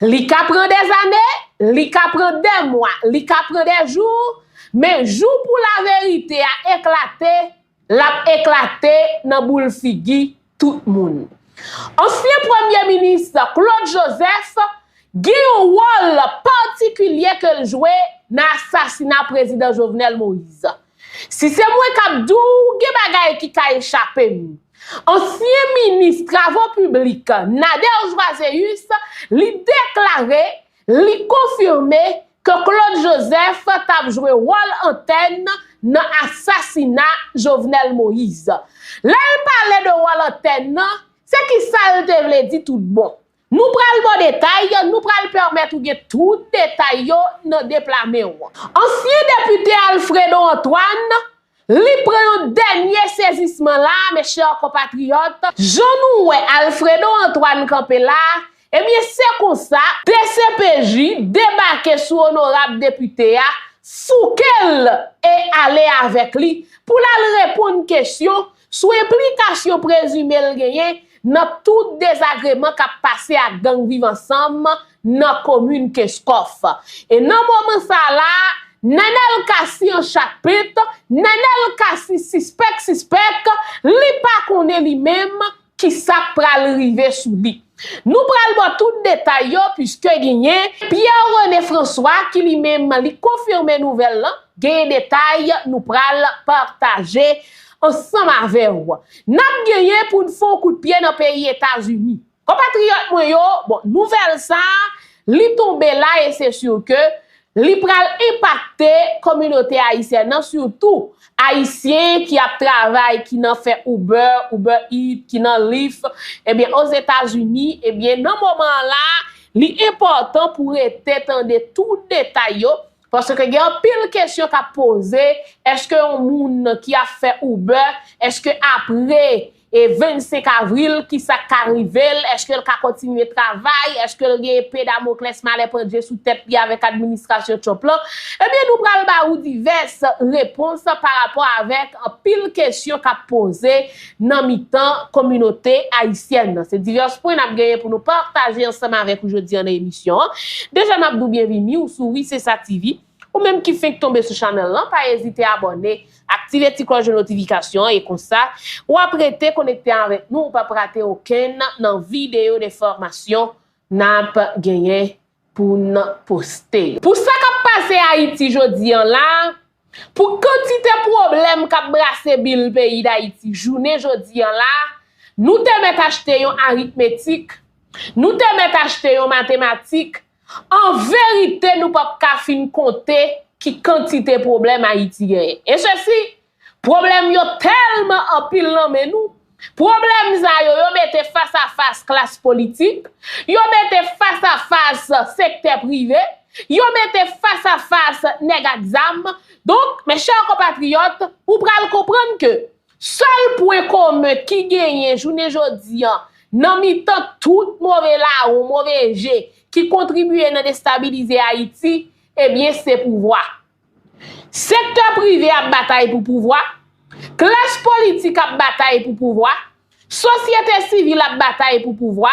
Li ka pran dèzane, li ka pran dè mwa, li ka pran dè jou, men jou pou laverite a eklate, l ap eklate nan boul figi tout moun. Ansyen premye minis Claude Joseph gen yon wòl patikilye ke l jwe nan asasina prezidan Jovenel Moïse. Si se mwen k ap di w, gen bagay ki ka echape m. Ansyen minis travo piblik Nader Joiséus li deklare li konfime ke Claude Joseph t ap jwe wòl antèn nan asasina Jovenel Moïse. Lè l pale de wòl antèn nan, se kisa l te vle di tout bon? Nou pral ba w detay, nou pral pèmèt ou gen tout detay yo nan deplame w. Ansyen depite Alfredo Antoine, li pran yon dènye sezisman la a mes chers compatriotes, jan nou wè Alfredo Antoine kanpe la a, ebyen se konsa, dcpj debake sou onorab depite a, fouke l e ale avèk li pou l al reponn kesyon Sou enplikasyon prezime l genyen nan tout dezagreman k ap pase ak gang Viv Ansanm nan komin Kenskòf. E nan moman sa a la a, Nenel Cassy an chat pent, Nenel Cassy sispèk sispèk, li pa konnen li menm ki sa k pral rive sou li. Nou pral ba w tout detay yo puiske genyen Pierre Rene François ki li menm li konfime nouvèl lan, genyen detay nou pral pataje Ansanm avè w, n ap genyen pou n fè yon kout pye nan peyi Etazini. Konpatriyòt mwen yo, bon, nouvèl sa a, li tonbe la e se sur ke, li pral enpakte kominote ayisyèn nan, sitou Ayisyen ki ap travay, ki nan fè Uber, Uber Eats, ki nan Lyft, ebyen, Ozetazini, ebyen, nan moman an la a, li enpòtan pou rete tande tout detay yo, Paske gen anpil kesyon k ap poze, eske yon moun ki ap fè Uber, eske apre 25 avril ki sa k ka rive l, eske l ka kontinye travay, eske l gen epe damoklès malè pandye sou tèt li avèk administrasyon Trump lan, ebyen nou pral ba ou divès repons parapò avèk anpil kesyon k ap poze nan mitan kominote ayisyèn nan. Se divès pwen n ap genyen pou nou pataje ansanm avèk ou jodi an nan emisyon an. Deja m ap di w byenvini ou sou Wi Se Sa TV. Ou menm ki fenk tonbe sou channel lan, pa ezite abòne, aktive ti klòch de notifikasyon an e konsa, w ap rete konekte avèk nou, ou p ap rate okenn nan videyo de fòmasyon n ap genyen pou n poste yo. Pou sa k ap pase Ayiti jodi an la, pou kantite pwoblèm k ap brase bil peyi Dayiti jounen jodi an la, nou te mèt achte yon aritmetik, nou te mèt achte yon matematik, an verite nou p ap ka fin konte ki kantite pwoblèm Ayiti genyen. E sesi, Pwoblèm yo tèlman anpil nan men nou, pwoblèm sa yo, yo mete fas a fas klas politik, yo mete fas a fas sektè prive, yo mete fas a fas nèg ak zam, donk, mes chers compatriotes, ou pral konprann ke sèl pwen komen ki genyen jounen jodi an nan mitan tout move lawon, move je ki kontribye nan destabilize Ayiti, ebyen se pouvwa. Sektè prive ap batay pou pouvwa, klas politik ap batay pou pouvwa, sosyete sivil ap batay pou pouvwa,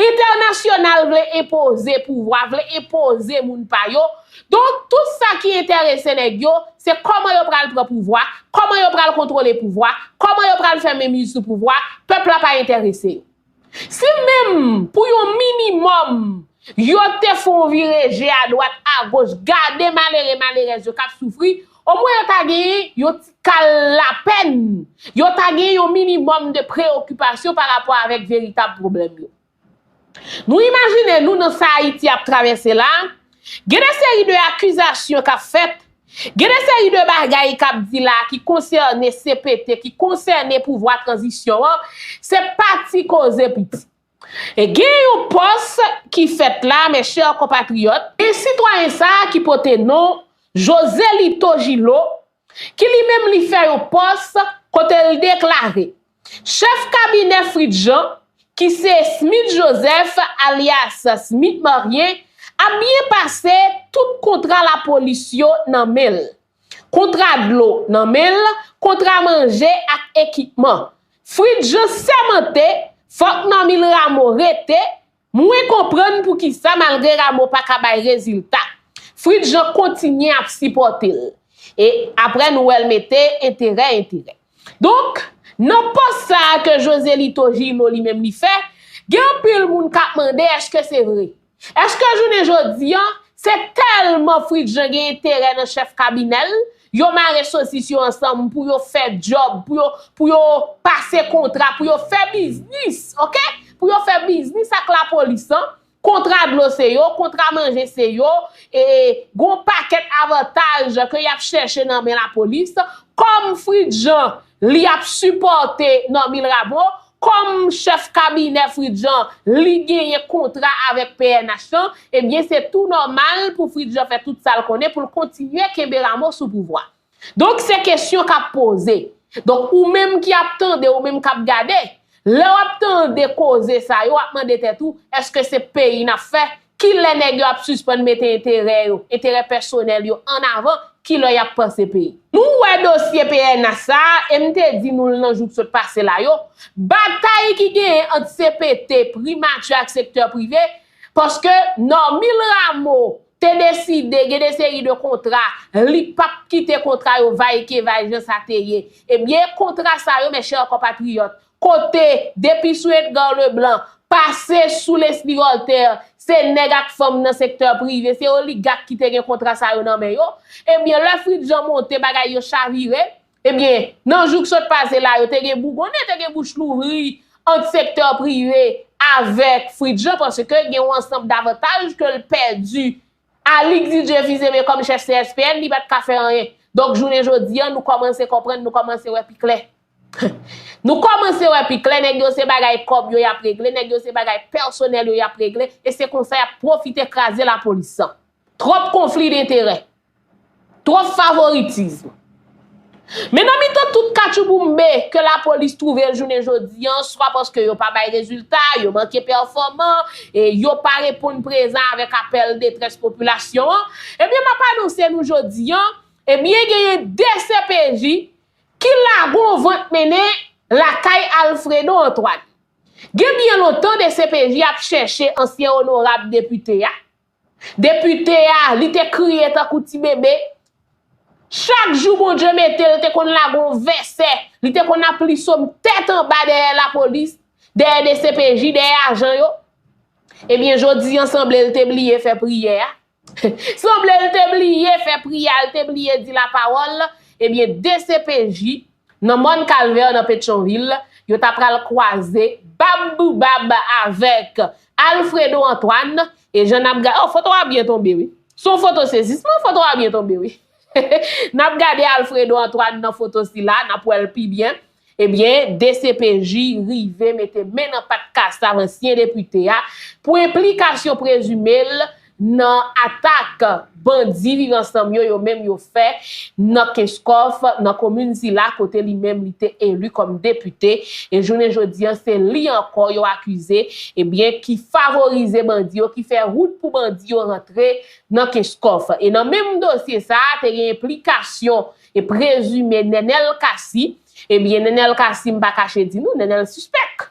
entènasyonal vle enpoze pouvwa, vle enpoze moun pa yo, donk tout sa ki enterese nèg yo, se kòman yo pral pran pouvwa, kòman yo pral kontwole pouvwa, kòman yo pral fè menmiz sou pouvwa, pèp la pa enterese yo. Si menm pou yon minimòm yo te fè yon vire je adwat agoch gade malere malerèz yo k ap soufri, omwen yo ta genyen yon ti kal lapèn, yo ta genyen yon minimòm de preyokipasyon pa rapò avèk veritab pwoblèm yo. Nou imajine nou nan sa Ayiti ap travèse la, Gen de seri de akizasyon k ap fèt, gen de seri de bagay k ap di la a ki konsène cpt, ki konsène pouvwa tranzisyon an, se pa ti koze piti. E gen yon pòs ki fèt la, mes chers compatriotes, gen sitwayen sa a ki pote non Joselito Gillot ki li menm li fè yon pòs kote l deklare Chèf kabinè Fritz Jean, ki se Smith Joseph alyas Smith Marien, ap byen pase, tout kontra lapolis yo nan men l. Kontra dlo nan men l, kontra manje ak ekipman. Fritz Jean sèmante, fòk Normil Rameau rete, Mwen konprann poukisa malgre Rameau pa ka bay rezilta, Fritz Jean kontinye ap sipòte l. E aprè nou wè l mete enterè enterè. Donk, nan pòs sa a ke Joselito Gino li menm li fè, gen anpil moun k ap mande èske se vre? Èske jounen jodi an, se tèlman Fritz Jean gen enterè nan chèf kabinè l, Yo mare sosis yo ansanm pou yo fè djòb, pou yo, pou yo pase kontra, pou yo fè biznis, ok! Pou yo fè biznis ak lapolis lan, kontra dlo se yo, kontra manje se yo, e gon pakèt avantaj ke y ap chèche nan men lapolis, kòm Fritjean, Li ap sipòte Normil Rameau kòm chèf kabinè Fridjan, li genyen kontra avèk pnh lan, ebyen se tou nòmal pou Fridjan fè tout sa l konnen pou l kontinye kenbe Rameau sou pouvwa. Donk se kesyon k ap poze. Donk ou menm ki ap tande, ou menm k ap gade, lè w ap tande koze sa yo, w ap mande tèt ou, èske se peyi n ap fè, Ki lè nèg yo ap sispann mete enterè yo, enterè pèsonèl yo an avan, ki lè y ap panse peyi? Nou wè dosye pnh sa a, e m te di nou l nan jou k sot pase la yo, batay ki genyen ant cpt, primati ak sektè prive, paske Normil Rameau te deside gen de seri de kontra li p ap kite kontra yo va e ke va jan sa te ye, ebyen kontra sa yo mèchè konpatriyòt, Kote, depi sou Edgar Leblanc, pase sou Leslie Voltaire, se nèg ak fanm nan sektè prive, se oligak ki te gen kontra sa yo nan men yo. Ebyen, lè Fritz Jean monte, bagay yo chavire. Ebyen, nan jou k sot pase la yo te gen bougonnen, te gen bouch louvri ant sektè prive avèk Fritz Jean paske gen yon ansanb davantaj ke l pèdi Alick Didier vize men kòm chèf CSPN li pat ka fè anyen. Donk jounen jodi an nou kòmanse konprann nou kòmanse wè pi klè. Nou kòmanse wè pi klè nèg yo se bagay kòb yo yap regle nèg yo se bagay pèsonèl yo yap regle e se konsa yap pwofite kraze lapolis. Twòp konfli denterè. Twòp favoritism. Men nan mitan tout katchouboumbe ke lapolis twouve l jounen jodi an, swa paske yo pa bay rezilta, yo manke pèfòman, e yo pa reponn prezan avèk apèl detrès popilasyon an, ebyen m ap anonse nou jodi an, ebyen genyen 2 CPJ ki lagon vant mennen lakay Alfredo Antoine. Gen byen lontan 2 CPJ ap chèche ansyen onorab depite a, Depite a, li te kriye tankou ti bebe. Chak jou Bondye mete l, te konn lage yon vèsè, li te konn ap li som tèt anba dèyè lapolis, dèyè dcpj, dèyè ajan yo. Ebyen jodi an sanble l te bliye fè priyè a. Sanble l te bliye fè priyè a, l te bliye di lapawòl. Ebyen dcpj, Nan mòn Kalvè nan Petyonvil, yo ta pral kwaze bab pou bab avèk Alfredo Antoine e jan nap gad, oh foto a byen tonbe wi, son foto sezisman, foto a byen tonbe wi, nap gade Alfredo Antoine nan foto sila, nap wèl pi byen, ebyen dcpj rive mete men nan pat Kassav ansyen depite a pou enplikasyon prezime l nan atak bandi Viv Ansanm yo yo menm yo fè nan Kenskòf, nan komin sila kote li menm li te eli kòm depite, e jounen jodi an se li ankò yo akize ebyen ki favorize bandi yo, ki fè wout pou bandi yo rantre nan Kenskòf. E nan menm dosye sa a te gen enplikasyon e prezime Nenel Cassy, ebyen Nenel Cassy m pa kache di nou, Nenel sispèk.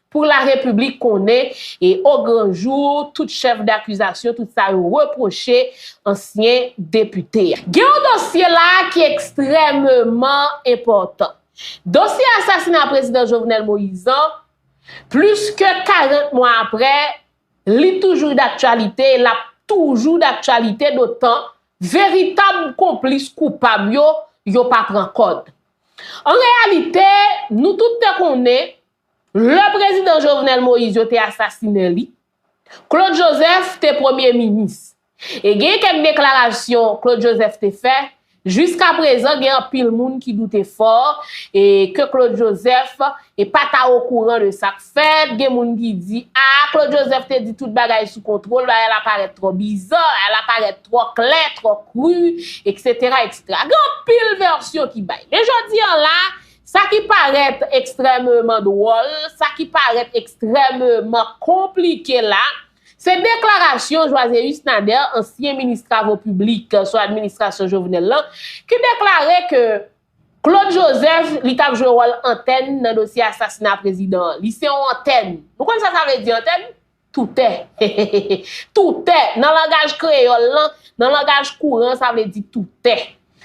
Pou la repiblik konnen e o gran jou tout chèf dakizasyon tout sa yo repwoche ansyen depite a. Gen yon dosye la a ki ekstrèmeman enpòtan. Dosye asasina prezidan Jovenel Moïse an, plis ke 40 mwa aprè, li toujou daktyalite e l ap toujou daktyalite dotan veritab konplis koupab yo, yo pa pran kòd. An reyalite, nou tout te konnen, Lè prezidan Jovenel Moïse yo te asasinen li, Claude Joseph te premye minis. E gen kèk deklarasyon Claude Joseph te fè, jiska prezan gen anpil moun ki doute fò e ke Claude Joseph e pa ta okouran de sa k fèt, gen moun ki di a Claude Joseph te di tout bagay sou kontwol, bagay la parèt twò bizò, bagay la parèt twò klè, twò kru, eksetera, eksetera. Gen anpil vèsyon ki bay. Men jodi an la, Sa ki parèt ekstrèmeman dwòl, sa ki parèt ekstrèmeman konplike la, se deklarasyon Joiséus Nader, ansyen minis travo piblik sou administrasyon Jovenel lan, ki deklare ke Claude Joseph li tap jwe wòl antèn nan dosye asasina prezidan an. Li se yon antèn. Nou konn sa sa vle di antèn? Toutè, heheheheh, toutè, nan langaj kreyòl lan, nan langaj kouran sa vle di toutè.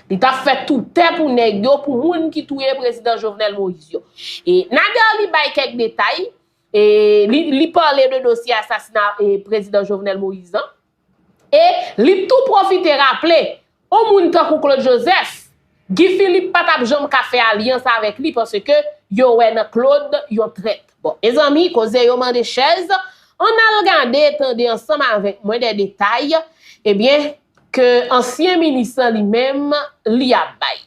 Li t ap fè toutè pou nèg yo, pou moun ki touye prezidan Jovenel Moïse yo. E Nader li bay kèk detay, e li pale de dosye asasina prezidan Jovenel Moïse an. E li tou pwofite raple, on moun tankou Claude Joseph, Guy Philippe pa tap janm ka fè alyans avèk li paske yo wè nan Claude yon trèt. Bon, mezanmi, koze yo mande chèz, ann al gade, tande ansanm avèk mwen dè detay, ebyen, ke ansyen minis lan li menm, li ap bay.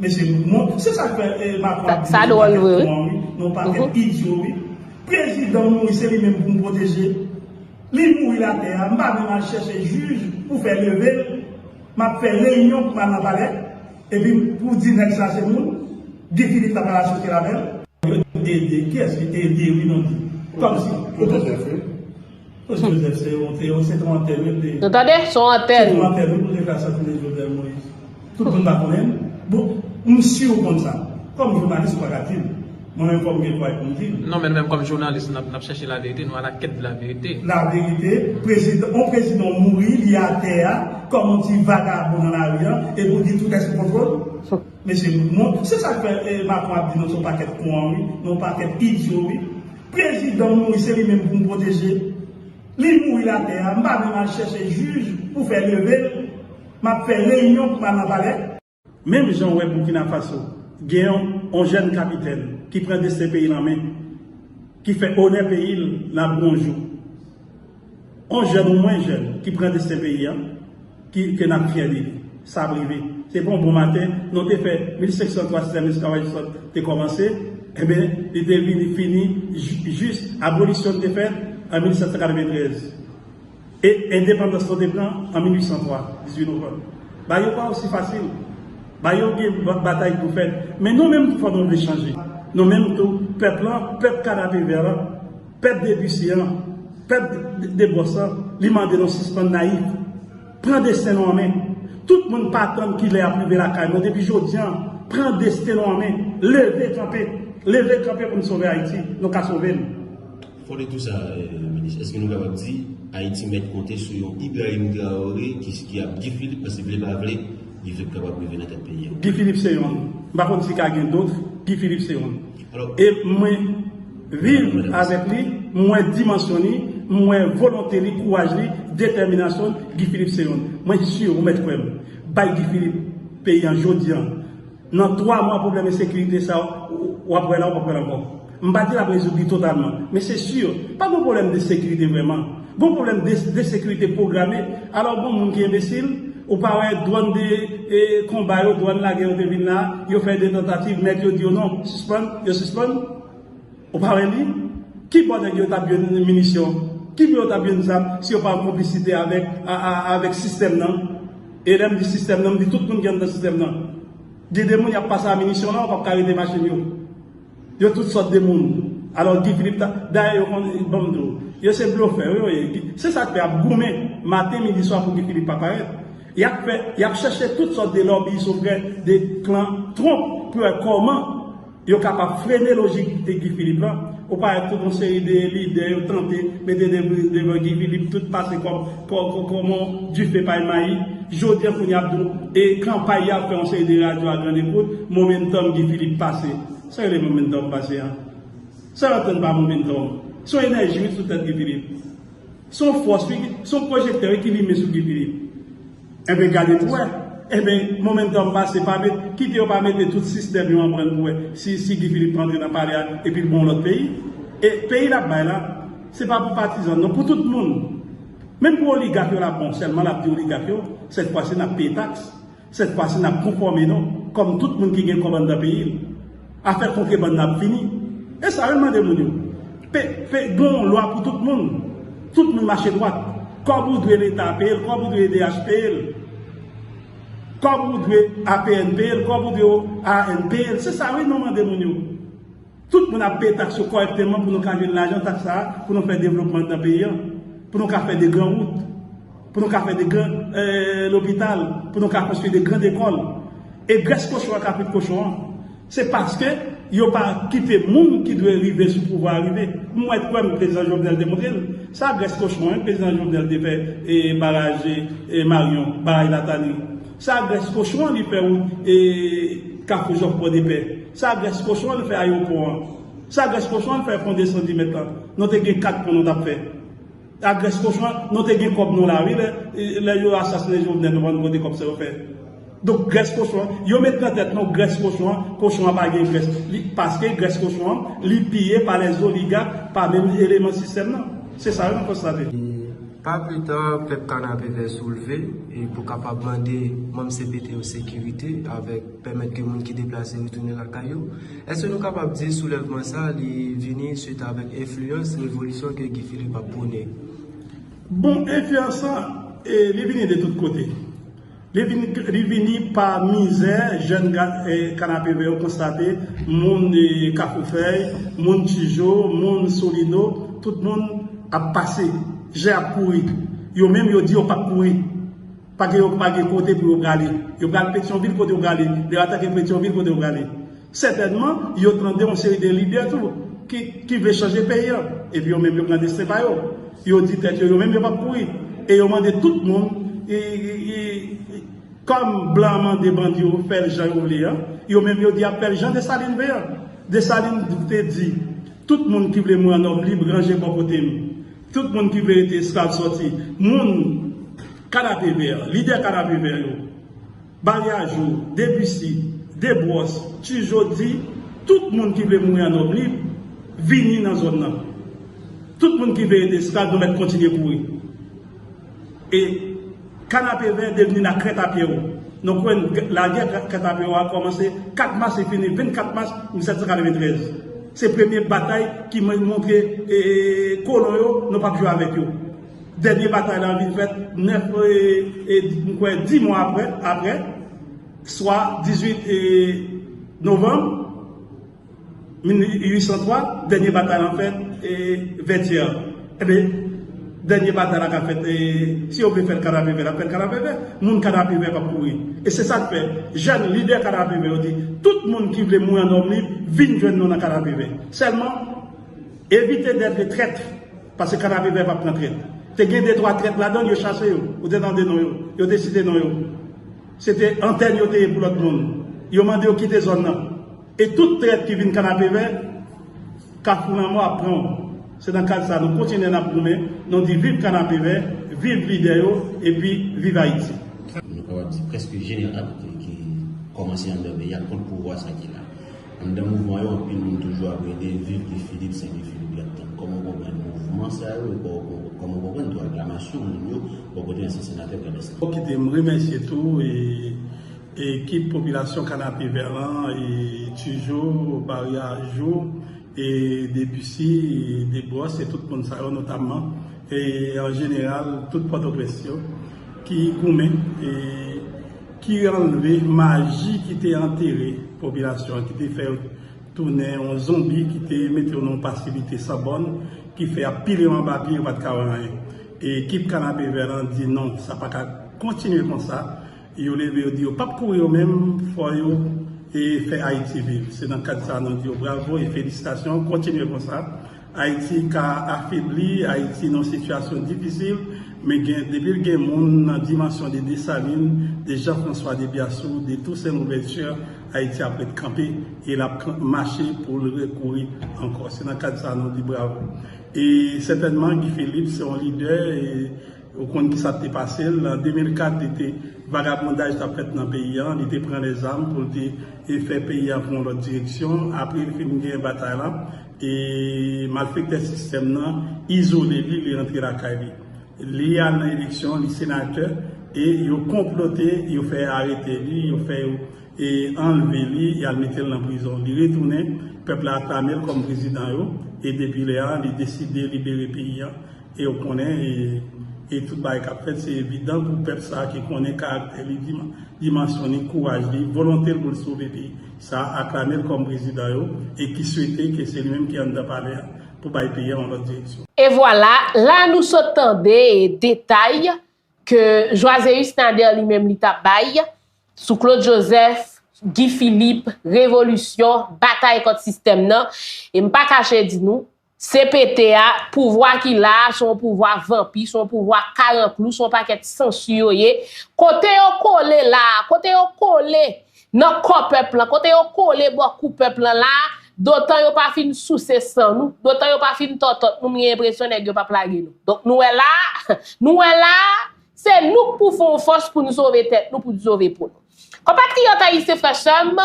Mesye nou bon, se sak fè macron ap vini yon paket con an wi, yon paket idyo wi, prezidan m mouri se li menm pou m pwoteje, li mouri latè a m pa menm al chèche jij pou fè leve l, m ap fè reyinyon pou m al nan palè epi pou di nèg sa se moun, Guy Philippe la pa la soti avè l. Yo ede, kiyès li ede wi non di, kòmsi. Mesye Joseph se yon te yon se ton antèn wi li. Nou tande son antèn. Se ton antèn wi pou te fè asasine Jovenel Moïse. Tout moun pa konnen l. Bon m si ou konn sa. Kòm jounalis ou pa ka di l. Mwen menm fò m gen kouraj pou m di l. Non men nou menm kòm jounalis n ap chèche la verite nou a la kèt de la verite. La verite prezidan yon prezidan mouri li atè a kòm yon ti vagabon nan lari an epi ou di tout est sou kontwòl. Mesye nou bon, se sak fè Macron ap di nou son pakèt kouan wi, nou pakèt idyo wi. Prezidan mouri se li menm pou nou pwoteje. Li mouri latè a, m pa menm al chèche jij pou fè leve l, m ap fè reyinyon pou m al nan palè. Menm jan w wè Burkina Faso gen yon jèn kapitèn ki pran desten peyi l an men, ki fè onè peyi l nan bonjou. On jèn ou mwen jèn ki pran desten peyi an, ki ke nap fyè de li. Sa ap rive. Se pa on bon maten non te fè 1503 sistèm esklavaj yo sot te kòmanse, enben li te vini fini jis abolisyon li te fè an 1793 e endepandans nou te pran an 1803, 18 novanm. Bagay yo pa osi fasil. Bagay yo gen batay pou fèt. Men nou menm tou fò nou vle chanje. Nou menm tou pèp lan, pèp kanapevè lan. Pèp depise an, pèp debòs an, li mande nou sispann nayif. Pran desten nou an men. Tout moun pa tann kilè y ap rive lakay nou. Depi jodi an, pran desten nou an men. Leve kanpe. Leve kanpe pou n sove Ayiti. Nou ka sove l. Fòde tou sa, Minis, èske nou kapab di Ayiti mèt konte sou yon Ibrahim Traoré ki ap Guy Philippe paske vle pa vle, Guy Philippe kapab rive nan tèt peyi an? Guy Philippe se yonn. M pa konn si ka gen dot. Guy Philippe se yonn. E mwen. Viv avèk li, m wè dimansyon li, m wè volonte li, kouraj li, detèminasyon l, Guy Philippe se yon. Mwen sur ou mèt kwè m, bay Guy Philippe peyi an jodi an, nan 3 mwa pwoblèm ensekirite sa w ap wè la w pap wè l ankò. M pa di l ap rezoud li totalman, men se sur, pa gon pwoblèm de sekirite vrèman, gon pwoblèm de desekirite pwograme, alò gon moun ki enbesil, ou pa wè dwòn de konba yo, dwòn lagè yo te vin la, yo fè 2 tantativ, mèt yo di yo non, sispann, yo sispann. Ou pa wè li? Ki bò nèg yo tap jwenn minisyon? Ki bò yo tap jwenn zam si yo pa an konplisite avèk sistèm nan? E lèm di sistèm nan, m di tout moun ki anndan sistèm nan. Gen de moun yap pase a minisyon la, yo pap ka rete machin yo. Yo tout sòt de moun. Alò Guy Philippe ta, dayè yo konn, banm di w, yo se blofè wi yo ye. Se sak fè yap goumen maten, midi, swa pou Guy Philippe pa parèt. Yap fè, yap chèche tout sòt de lòbi sou vre de klan Trump pou wè kòman. Yo kapab frene lojik de Guy Philippe lan, ou pa wè tout yon seri de lidè yo tante mete devan Guy Philippe tout pase kòm kòman dife pay mayi. Jodi an kounye a ap di w e kanpay y ap fè yon seri de radyo a grann ekout, momentum Guy Philippe pase. Sa rele momentum pase an? Sa yo antann pa momentum? Se yon enèji wi sou tèt Guy Philippe. Se yon fòs wi, se yon pwojektè wi ki limen sou Guy Philippe. Enben gade pou wè. Enben momentum pase pa met kite yo pa mete tout sistèm yo anbrann pou wè si si Guy Philippe rantre nan palè a epi l bon lòt peyi. E peyi l ap bay la se pa pou patizan l non pou tout moun. Menm pou oligak yo l ap bon sèlman l ap di oligak yo sèt fwa si n ap peye taks sèt fwa si n ap konfòme nou kòm tout moun ki gen kòb anndan peyi l. Afè kontrebann nan ap fini. E sa yo mande moun yo. P p gen yon lwa pou tout moun. Tout moun mache dwat. Kòb ou dwe leta peye l, kòb ou dwe edh peye l. Kòb ou dwe APN peye l, kòb ou dwe OAN peye l. Se sa wi nou mande moun yo. Tout moun ap peye taks yo kòrèkteman pou nou ka jwenn lajan taks sa a pou nou fè devlopman nan peyi an. Pou nou ka fè de gran wout. Pou nou ka fè de gran lopital, pou nou ka konstwi de gran ekòl. E grès kochon an kapit kochon an. Se paske yo pa kite moun ki dwe rive sou pouvwa a rive. M wè kwè m prezidan Jovenel te montre l. Sa grès kochon an prezidan Jovenel te fè baraj Maryon, baraj Latani. Sa grès kochon an li fè wout Kafou Jòf Pòdepè. Sa grès kochon an l fè ayewopò an. Sa grès kochon an l fè pon 210 mèt lan. Nou te gen 4 pon nou t ap fè. A grès kochon an nou te gen kòb nou la wi lè yo asasine jovenel nou pa konn kote kòb sa yo fè donk grès kochon an yo met nan tèt nou grès kochon an kochon an pa gen grès paske grès kochon an li piye pa lè zoliga pa menm eleman sistèm nan se sa yo konstate. E pa pi ta pèp kanapevè soulve e pou kapab mande manm cpt yo sekirite avèk. Pèmèt ke moun ki deplase retounen lakay yo. Èske nou kapab di soulèvman sa a li vini swit avèk enfliyans revolisyon ke Guy Philippe ap pwone? Bon, enfliyans sa a, li vini de tout kote. Li vini pa mizè jèn Kanapevè yo konstate, moun Kafoufèy, moun Tijo, moun Solino, tout moun ap pase, je ap kouri. Yo menm yo di yo pap kouri. Pa gen yo pa gen kote pou yo prale. Yo pral Petyonvil kote yo prale. Lè yo atake Petyonvil kote yo prale. Sètènman, yo tande yon seri de lidè tou ki vle chanje peyi an. Epi yo menm yo pran desten pa yo. Yo di tèt yo yo menm yo pap kouri. E yo mande tout moun kòm blan an mande bandi yo fè l jan yo vle an, yo menm yo di y ap fè l jan Desalin vle an. Desalin te di, Tout moun ki vle mouri an nòb lib ranje bò kote m. Tout moun ki vle rete esklav sòti. Moun Kanape Vè, lidè Kanape Vè yo, Balyajwo, Debisi, Debròs, Tijo di tout moun ki vle mouri an nòm lib, vini nan zòn nan. Tout moun ki vle rete esklav nou mèt kontinye kouri. E kanapevè devni la krèt a pye ou. Nou kwè n lagè krèt a pye ou a kòmanse 4 mas li fini 24 mas 1793. Se premye batay ki montre kolon yo nou pap jwe avèk yo. Dènye batay la vin fèt 9 m kwè 10 mwa aprè, swa 18 novanm. 1803, dènye batay lan fèt Vètyè. Enben, dènye batay la ka fèt, si yo vle fè l Kanapevè, l ap fèt Kanapevè. Moun Kanapevè p ap kouri. E se sa k fè, jèn lidè Kanapevè yo di, tout moun ki vle mouri an òm lib, vin jwenn nou nan Kanapevè. Sèlman, evite dètre trèt, pase Kanapevè p ap pran trèt. Te gen detwa trèt ladan l, yo chase yo. Ou te tande non yo. Yo te site non yo. Se te antèn yo te ye pou lòt moun. Yo mande yo kite zòn nan. E tout trèt ki vin kanapevè, kafou lanmò ap pran w. Se nan kad sa nou kontinye nap goumen, nou di viv kanapevè, viv lidè yo epi viv Ayiti. Nou kapab di prèske jeneral ki kòmanse anndan peyi a kont pouvwa sa ki la. Anndan mouvman yo anpil moun toujou ap rele viv Guy Philippe se Guy Philippe yap tann. Kòman w konprann mouvman sa yo e kòman w konprann tou aklamasyon moun yo bò kote ansyen senatè Pradès la. Fòk kite m remèsye tou e Ekip popilasyon kanapevè lan e tujou bari a jou e debussy e debros e tout moun sa yo notamman e an jeneral tout pòtoprens yo ki goumen e ki anlve maji ki te antere popilasyon an ki te fè yo tounen yon zonbi ki te mete yo nan yon pasivite san bòn ki fè ap pile yo anba pye yo pat ka wè anyen e ekip kanapevè lan di non sa paka kontinye konsa. Yo leve yo di yo pap kouri yo menm fò yo fè Ayiti viv se nan kad sa nou di yo bravo e felisitasyon kontinye konsa Ayiti ka afebli Ayiti nan sitiyasyon difisil men gen depil gen moun nan dimansyon de Desalin de Jan Franswa de Byasou de Tousen Louvèti Ayiti ap ret kanpe e lap mache poul re kouri ankò se nan kad sa nou di bravo e sètènman Guy Philippe se yon lidè e Ou konn ki sa k te pase l? An 2004, li te, vagabondaj t ap fèt nan peyi an, li te pran lèzam pou l te fè peyi an pran yon lòt direksyon. Apre li fin gen batay la, e malfektè sistèm nan izole li, li rantre lakay li. Li al nan eleksyon, li senatè, e yo konplote, yo fè arete li, yo fè yo anlve li, y al mete l nan prizon. Li retounen, pèp la aklame l kòm prezidan yo, e depi lè a, li deside libere peyi an. E yo konnen e tout bagay kap fèt se evidan pou pèp sa ki konnen karaktè li, dimansyon li, kouraj li, volonte l pou l sove peyi sa aklame l kòm prezidan yo e ki swete ke se li menm ki anndan palè a pou bay peyi a yon lòt direksyon. E vwala, la nou sot tande detay ke Joiséus Nader li menm li ta bay sou Claude Joseph, Guy Philippe, revolisyon, batay kont sistèm nan e m pa kache di nou, CPT a, pouvwa ki la a, se yon pouvwa vanpi, se yon pouvwa karanklou, se yon pakèt sansi yo ye. Kote yo kole la a, kote yo kole nan kò pèp lan, kote yo kole bò kou pèp lan la a, dotan yo pa fin souse san nou, dotan yo pa fin tòtòt nou, m gen enpresyon nèg yo p ap lage nou. Donk nou wè la a, nou wè la a, se nou k pou fè yon fòs pou n sove tèt nou, pou n sove po nou. Konpatriyòt ayisyen, frè sè m,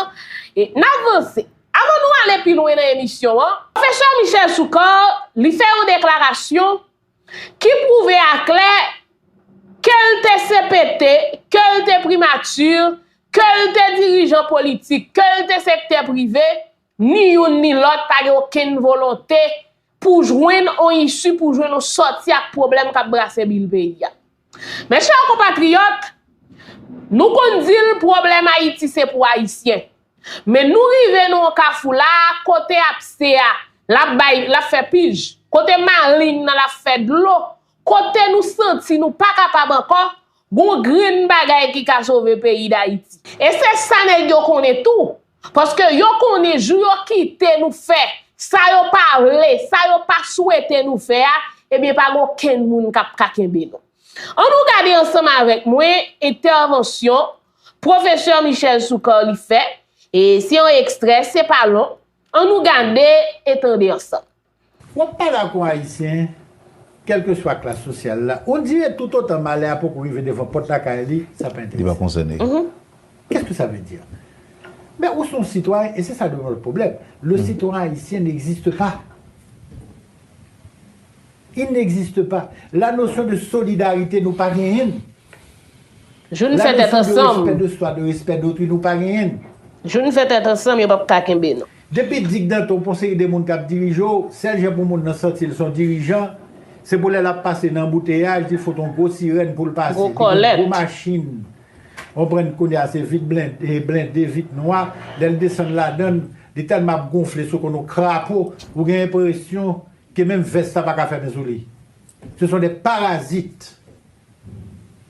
n avanse. Avan nou ale pi lwen nan emisyon an, Pwofesè Michel Soukar li fè yon deklarasyon ki pwouve a klè ke l te CPT, ke l te primature, ke l te dirijan politik, ke l te sektè prive, ni youn ni lòt pa gen okenn volonte Pou jwenn on isu, pou jwenn on sòti ak pwoblèm kap brase bil peyi a. Mes chers compatriotes, nou konn di l pwoblèm Ayiti se pou Ayisyen. Men nou rive nan on kafou la, kote apse a, lap bay, lap fè pij, kote maling nan lap fè dlo, kote nou santi nou pa kapab ankò, Gon grenn bagay ki ka sove peyi dayiti. E se sa nèg yo konnen tou. Paske yo konnen jou yo kite nou fè sa yo pa vle, sa yo pa swete nou fè a, ebyen pa gen okenn moun k ap ka kenbe nou. An nou gade ansanm avèk mwen entèvansyon Pwofesè Michel Soukar li fè, e se yon ekstrè, se pa long, an nou gade e tande ansanm. Wap pale ak yon Ayisyen, kèlkeswa klas sosyal la, ou di e toutotan malè a poko rive devan pòt lakay li, sa pa Li pa enterese konsène l. li. Qu'est-ce que ça veut dire? Men ou se yon sitwayen e se sa devan lòt pwoblèm. Le citoyen haïtien n'existe pas. Il n'existe pas. La notion de solidarité nou pa genyen l. Jou n fè tèt ansanm. La leçon de respect de soi de respect d'autrui nou pa genyen l. Jou n fè tèt ansanm yo pap ka kenbe nou. Depi Dick Danton pou yon seri de moun kap dirije w, sèl jan pou moun nan santi l s on dirijan, se pou lè lap pase nan anbouteyaj li fout on gwo sirèn pou l pase, li gen on gwo machin w konprann kounye a se vit blende, vit nwa, lè l desann ladan l, li tèlman ap gonfle se kon on krapo, ou gen enpresyon ke menm vès la paka fèmen sou li. Se son de parazit.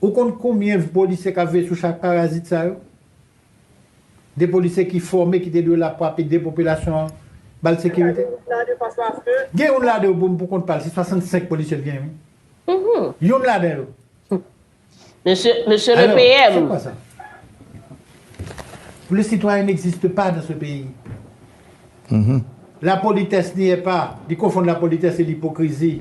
Ou konn konbyen polisye kap veye sou chak parazit sa yo? De polisye ki fòme ki te dwe la pou ap ede popilasyon an bal sekirite? Gen youn ladan yo pou kont pal se 65 polisye l genyen wi. Youn ladan yo. Mesye le PM. Se kwa sa? Le citoyen n'existe pas dans ce pays. La politesse n'y est pas. Li konfonn la politesse e lipokrizi.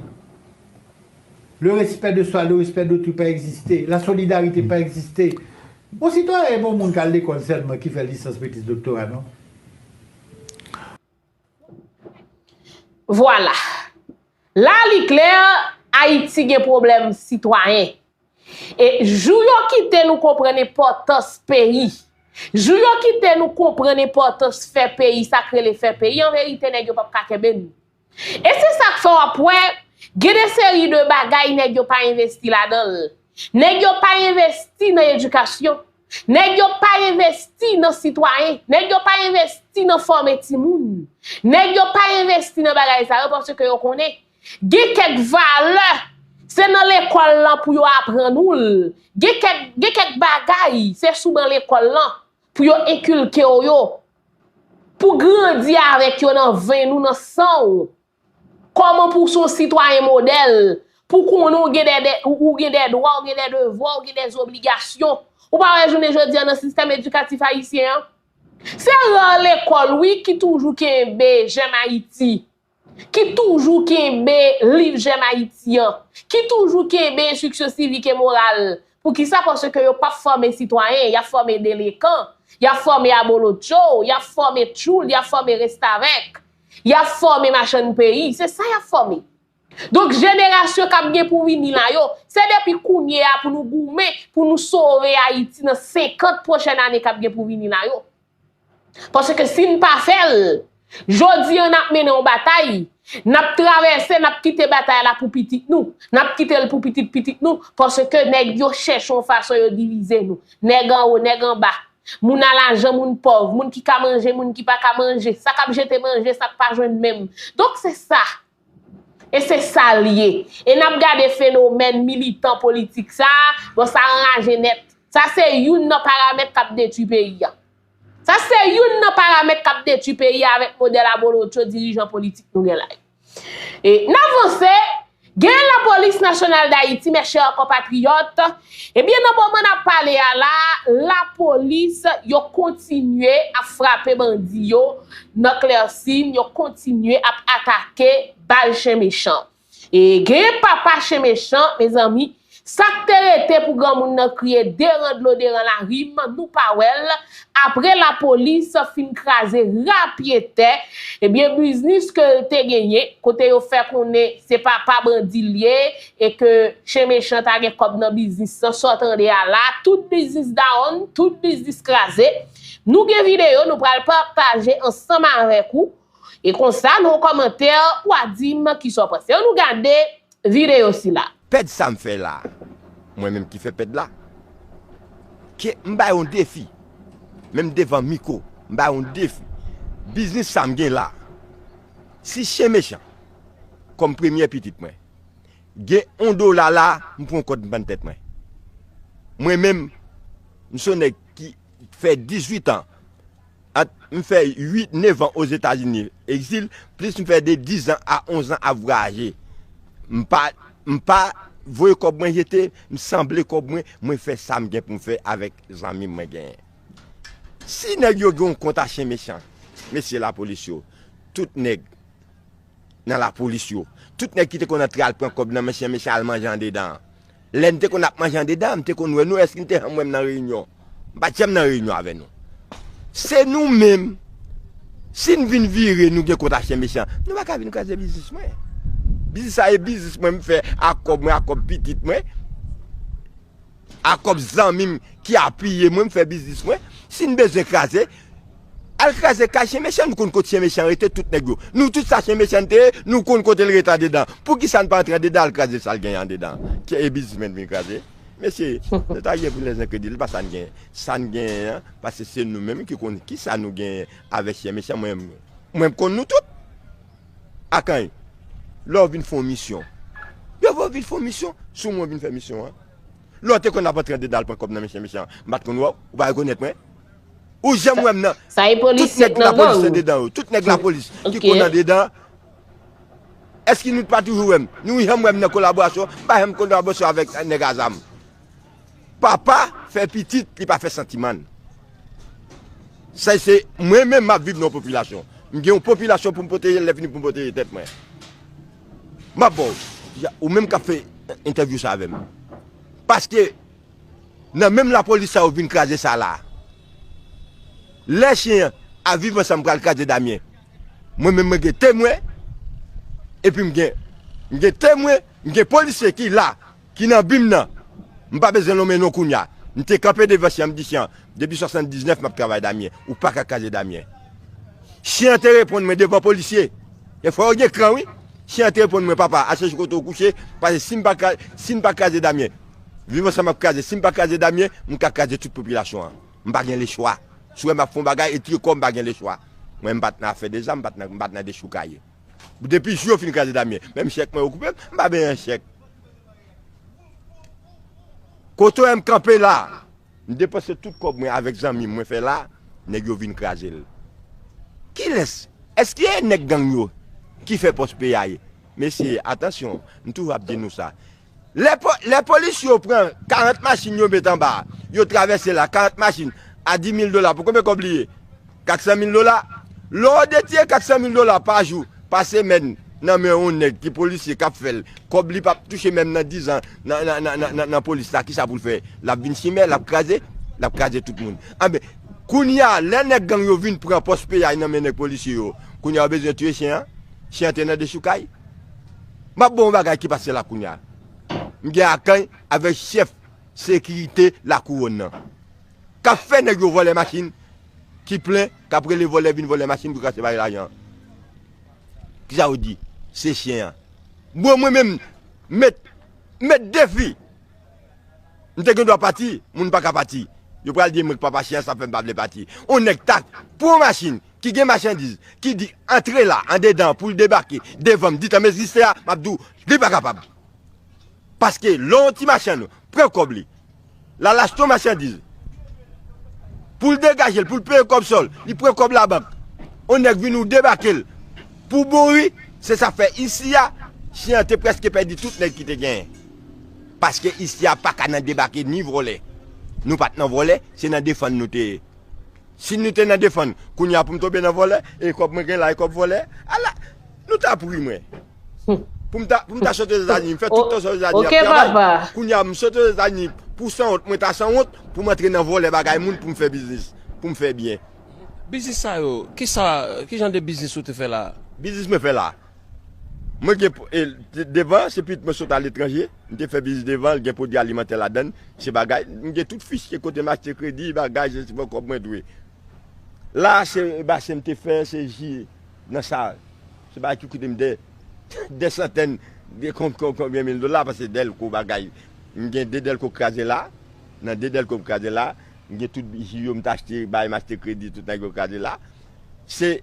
Le respect de soi, le respect d'autrui pa egziste, la solidarite pa egziste. Bon sitwayen e pa w moun k al lekòl sèlman ki fè lisans, metriz, doktora non. Vwala. La li klè, Ayiti gen pwoblèm sitwayen. E jou yo kite nou konprann enpòtans peyi, jou yo kite nou konprann enpòtans fè peyi, sa k rele fè peyi, an verite nèg yo p ap ka kenbe nou. E se sak fè wap wè gen de seri de bagay nèg yo pa envesti ladanl. Nèg yo pa envesti nan edikasyon, nèg yo pa envesti nan sitwayen, nèg yo pa envesti nan fòme timoun, nèg yo pa envesti nan bagay sa yo paske yo konnen gen kèk valè se nan lekòl lan pou yo aprann oul, gen kèk gen kèk bagay se sou ban lekòl lan pou yo enkilkew yo. Pou grandi avèk yo nan ven nou, nan san ou. Kòman pou w se yon sitwayen modèl, pou w konnen ou gen dè dè, ou gen dè dwa, ou gen dè devwa, ou gen dè zobligasyon. Ou pa wè jounen jodi a nan sistèm edikatif ayisyen an, se rare lekòl wi ki toujou kenbe jèn Ayiti. ki toujou kenbe liv jèm Ayiti an, ki toujou kenbe enstriksyon sivik e moral, poukisa paske yo pap fòme sitwayen, yap fòme delekan, yap fòme abolotcho, yap fòme tchoul, yap fòme restavèk, yap fòme machann peyi, se sa yap fòme. Donk jenerasyon kap gen pou vini la yo, se depi kounye a pou nou goumen pou nou sove Ayiti nan 50 pwochèn ane kap gen pou vini la yo. Paske si n pa fè l, jodi an n ap mennen yon batay, n ap travèse, n ap kite batay la pou pitit nou, n ap kite l pou pitit pitit nou, paske nèg yo chèche yon fason yo divize nou, nèg anwo, nèg anba, moun a lajan, moun pòv, moun ki ka manje, moun ki pa ka manje, sa k ap jete manje, sa k pa jwenn menm. Donk se sa. E se sa l ye. E n ap gade fenomèn militan politik sa, bon sa anraje nèt. Sa se youn nan paramèt k ap detui peyi a. Sa se youn nan paramèt k ap detui peyi a avèk modèl abolotcho dirijan politik nou gen la yo. E n avanse, gen lapolis nasyonal dayiti, mèchè konpatriyòt, Ebyen nan moman nap pale a la, lapolis yo kontinye ap frape bandi yo nan Clercine, yo kontinye ap atake bal chen mechan. E genyen papa chen mechan mezanmi, sak te rete pou granmoun nan kriye deran dlo deran larim nou pa wèl, apre lapolis fin kraze ra pye tè, ebyen biznis ke l te genyen, kote yo fè konnen se papa bandi l ye, E ke chen mechan ta gen kòb nan biznis lan sa w tande a la tout biznis dawonn tout biznis kraze nou gen videyo nou pral pataje ansanm avèk ou e konsa nan yon kòmantè ou a di m kisa w panse an nou gade videyo sila. Pèd sa m fè la mwen menm ki fè pèd la ke m bay yon defi menm devan miko m bay yon defi biznis sa m gen la si chen mechan kòm premyè pitit mwen gen on dola la m pran kòd m pann tèt mwen. Mwen menm m son nèg ki fè 18 an at m fè 8, 9 an ozetazini egzil plis m fè de 10 an a 11 an ap vwayaje m pa m pa voye kòb mwen jete m sanble kòb mwen mwen fè sa m gen pou m fè avèk zanmi mwen genyen. Si nèg yo gen on kont a chen mechan mesye lapolis yo tout nèg. nan lapolis yo. Tout nèg ki te konn antre al pran kòb nan men chyen mechan al manje andedan an. Lè n te konn ap manje andedan an, m te konn wè nou. Èske n te janm wè m nan reyinyon? M pa t janm nan reyinyon avè nou. Se nou menm, si n vin vire nou gen kont ak chyen mechan, nou pa ka vin kraze biznis mwen. Biznis sa e biznis mwen m fè ak kòb mwen, ak kòb pitit mwen. A kòb zanmi m ki apiye mwen m fè biznis mwen, si n bezwen kraze, al kraze kay chen mechan, nou konn kot chen mechan rete tout nèg yo, nou tout sa chen mechan te ye, nou konn kote l rete andedan, poukisa n pa antre andedan al kraze sa l genyen andedan an ke e biznismèn vin kraze? Mesye, nou ta gen pou lèz nan kredi l pa sa n genyen, sa n genyen an, pase se nou menm ki konn kisa nou genyen avèk chen mechan mwen m konn nou tout. Akany, lè w vin fè yon misyon, yo vle w vin fè yon misyon sou mwen, vin fè misyon an. Lè w te konn ap antre an dedal pran kòb nan men chen mechan, m pa t konn wè w, ou pa rekonèt mwen. Ou janm wè m nan. Sa e polis met nan gang ou? Tout nèg lapolis ki konn andedan, èske nou pa toujou wè m? Nou janm wè m nan kolaborasyon? M pa janm kolaborasyon avèk nèg azam. Papa fè pitit li pa fè santimann. Sa se mwen menm map viv nan yon popilasyon. M gen yon popilasyon pou m pwoteje lè fini pou m pwoteje tèt mwen. Map ba w. Ou menm kap fè entèvyou sa avè m. Paske nan menm lapolis sa yo vin kraze sa la. Lè chen an a viv ansanm pral kraze Damien. Mwen menm mwen gen temwen. Epi m gen temwen, m gen polisye ki la. Ki nan vim nan. M pa bezwen lonmen non kounya. M te kanpe devan Chan m di Chan, depi 79 map travay Damien, ou paka kraze Damien. Chen an te reponn mwen devan polisye. E fò yo gen kran wi. Chen an te reponn mwen papa a chèche kote ou kouche pase si m pa kraze si n pa kraze Damien viv ansanm ap kraze si m pa kraze Damien m ka kraze tout popilasyon an. M pa gen lechwa. Si w wè m ap fè yon bagay e tire kò m pa gen lechwa. Mwen m pat nan afè de zam m pat nan m pat nan dechoukaye. Depi jou yo fin kraze Damien, menm chèk mwen yo koupe, m pa benyen chèk. Kote wè m kanpe la, m depanse tout kòb mwen avèk zanmi m mwen fè la, nèg yo vin kraze l. Kilès, èske e nèg gang yo ki fè pòs peyay? Mesye, atansyon, m toujou ap di nou sa, Lè polis yo pran 40 machin yo met anba, yo travèse la, 40 machin a 10 mil dola pou konbe kòb li ye? 400 mil dola. Lò w detye 400 mil dola pa jou, pa semèn nan men yon nèg ki polisye k ap fè l, kòb li p ap touche menm nan 10 an nan polis la, kisa pou l fè? L ap vin chimè, l ap kraze? L ap kraze tout moun. Anben, kounye a, lè nèg gang yo vin pran pòs piyay nan men nèg polisye yo, kounye a yo bezwen tiye chen an? Chen an te nan dechoukay. M ap ba w yon bagay ki pa sè la kounye a. M gen akany avèk chèf sekirite Lakouwòn nan k ap fè nèg yo vòlè machin ki plen, k ap rele vòlè vin vòlè machin pou krache bare lajan an. Ki sa yo di? Se chen an. Bro mwen menm m met defi. M te gen dwa pati, moun pa ka pati. Yo pral di m k pa pa chen an sa fè m pa vle pati. On nèg ta pran yon machin ki gen machandiz ki di antre la andedan pou l debake devan m di tan mezi se a m ap di w li pa kapab paske lè yon ti machann pran kòb li l al achte yon machandiz pou l degaje l pou l peye kòb sòl li pran kòb labank yon nèg vini w debake l pou bouri se sa k fè isi a chyen an te prèske pèdi tout nèg ki te genyen paske isi a pa ka nan debake ni vòlè nou pa t nan vòlè se nan defann nou te ye. Si nou te nan defann kounye a pou m tonbe nan vòlè e kòb mwen gen la e kòb vòlè ala nou tap ri mwen pou m ta pou m ta soti ozetazini m fè tout tan sa ozetazini ap travay kounye a m soti ozetazini pou sanwont mwen ta sanwont pou m antre nan vòlè bagay moun pou m fè biznis pou m fè byen. Biznis sa yo kisa kijan de biznis ou te fè la a? Biznis mwen fè la a Mwen gen devan se pitit mwen sot aletranje, m te fè biznis devan l gen pwodui alimantè ladann, se bagay, m gen tout fisye kote m achte kredi, bagay, se sipò kòb mwen dwe. La a se basen m te fè, se ji nan sa, se bagay ki koute m dè dè santèn de konbyen mil dola pase dèlko bagay, m gen de dèlko kraze la, nan de dèlko m kraze la, m gen tout ji yo m t achte, bagay m achte kredi tout nèg yo kraze la, se.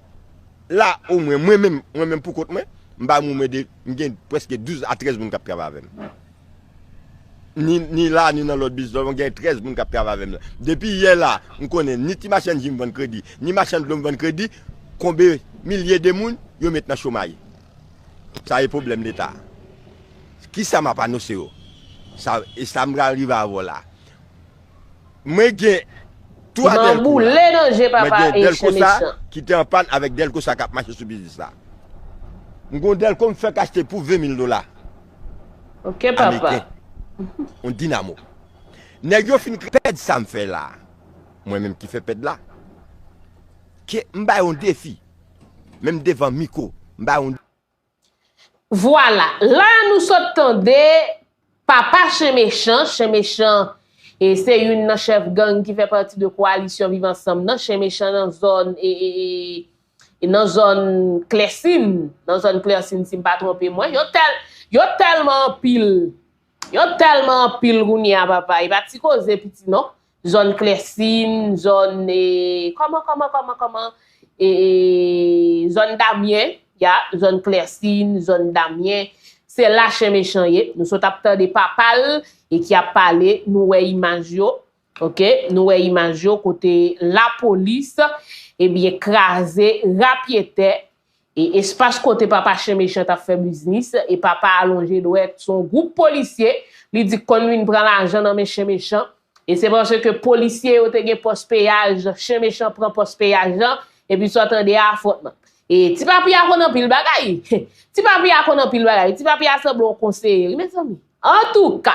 La o mwen, mwen menm, mwen menm pou kont mwen, m pa moun mwen de, m gen preske 12 a 13 moun k ap travay avè m. Ni, ni la, ni nan lòt biznis, mwen gen 13 moun k ap travay avè m nan. Depi yè la, m konnen ni ti machann ji m vann kredi, ni machann dlo m vann kredi, konbe milye de moun yo met nan chomay. Sa e pwoblèm Leta a. Kisa m ap anonse yo? Sa, e sa m pral rive avè w la. Mwen gen 3 Delco la. Mwen boule nan je papa Haitian mechan. Ki te an pann avèk Delco sa kap mache sou biznis la. M gon Delco m fèk achte pou 20 mil dola. Ok papa. On dinamo. Nèg yo fin pèd sa m fè la. Mwen menm ki fè pèd la. Ke m bay on defi. Menm devan miko. M bay on. Vwala, la a nou sot tande Papa Chen Mechan, Chen Mechan se youn nan chèf gang ki fè pati de koalisyon Viv Ansanm nan, Chen Mechan nan zòn nan zòn Klèsin, nan zòn Klèsin si m pa twonpe mwen, yo tèlman anpil. Yo telman anpil kounye a papa epa ti koze piti non zòn klèsin zòn e kòman kòman kòman kòman e zòn damyen ya zòn klèsin zòn damyen se la chen mechan ye nou sot ap tande papal e ki ap pale nou wè imaj yo Ok nou wè imaj yo kote lapolis ebyen kraze rapyetè e espas kote papa chen mechan tap fè biznis e papa alonje dwèt sou yon gwoup polisye li di konn vin pran lajan nan men chen mechan e se paske polisye yo te gen pòs peyaj chen mechan pran pòs peyaj lan epi sa w tande a afwontman e ti papi a konn anpil bagay ti papi a konn anpil bagay ti papi a sanble yon konseye wi mezanmi. Antouka!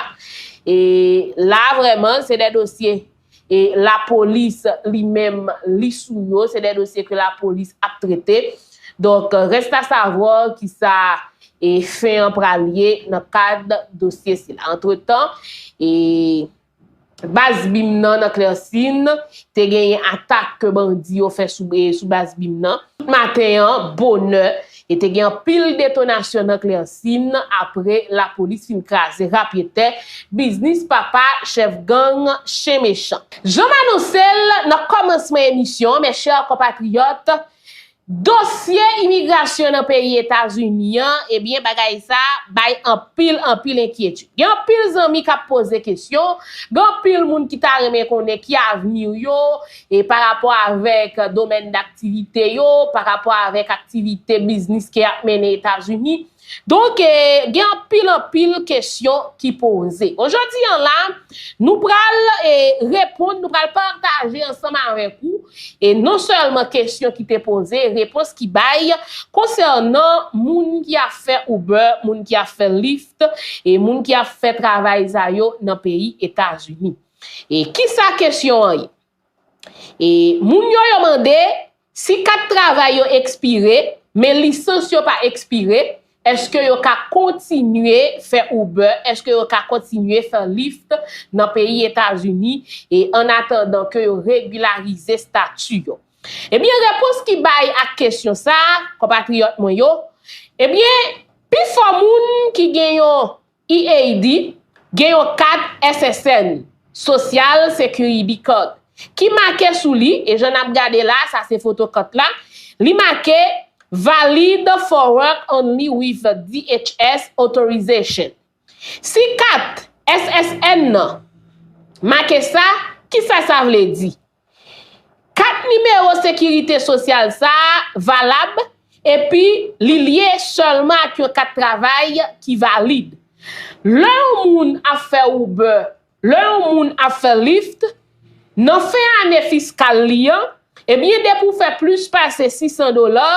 E la vrèman se de dosye e lapolis li menm li sou yo, se de dosye ke lapolis ap trete. Donk rèst a savwar ki sa e fen an pral ye nan kad dosye sila. Antretan e. Baz bim nan nan Klèsin, te genyen atak ke bandi yo fè sou baz bim nan. Tout maten an, bonè, e te gen anpil detonasyon nan Klèsin apre lapolis fin kraze ra pye tè biznis papa chèf gang Chen Mechan. Jan m anonse l nan kòmansman emisyon an, mèchè konpatriyòt, Dosye imigrasyon nan peyi Etazini an, ebyen bagay sa bay anpil anpil enkyetid. Gen anpil zanmi k ap poze kesyon, gen anpil moun ki ta renmen konnen ki avni yo, e pa rapò avèk domèn daktivite yo, pa rapò avèk aktivite biznis ke y ap mennen Etazini. Donk, gen anpil anpil kesyon ki poze. Jodi an la, nou pral reponn, nou pral pataje ansanm avèk ou, non sèlman kesyon ki te poze, repons ki bay, konsènan moun ki ap fè Uber, moun ki ap fè Lyft, e moun ki ap fè travay sa yo nan peyi Etazini. E kisa kesyon an ye? E moun yo yo mande si kat travay yo ekspire men lisans yo pa ekspire eske yo ka kontinye fè Uber eske yo ka kontinye fè Lyft nan peyi Etazini e an atandan ke yo regularize statu yo. Ebyen repons ki bay ak kesyon sa konpatriyòt mwen yo ebyen pifò moun ki gen yon UAID gen yon kat SSN, Social Security Card, ki make sou li, e jan n ap gade la a, sa se foto kat la, li make Valid for work only with DHS authorization. Si kat SSN nan make sa, kisa sa vle di? Kat nimewo sekirite sosyal sa a valab epi li lye sèlman ak yon kat travay ki valid. Lè yon moun ap fè Uber, lè yon moun ap fè Lyft, nan fen ane fiskal li an, ebyen depi w fè plis pase 600 dola,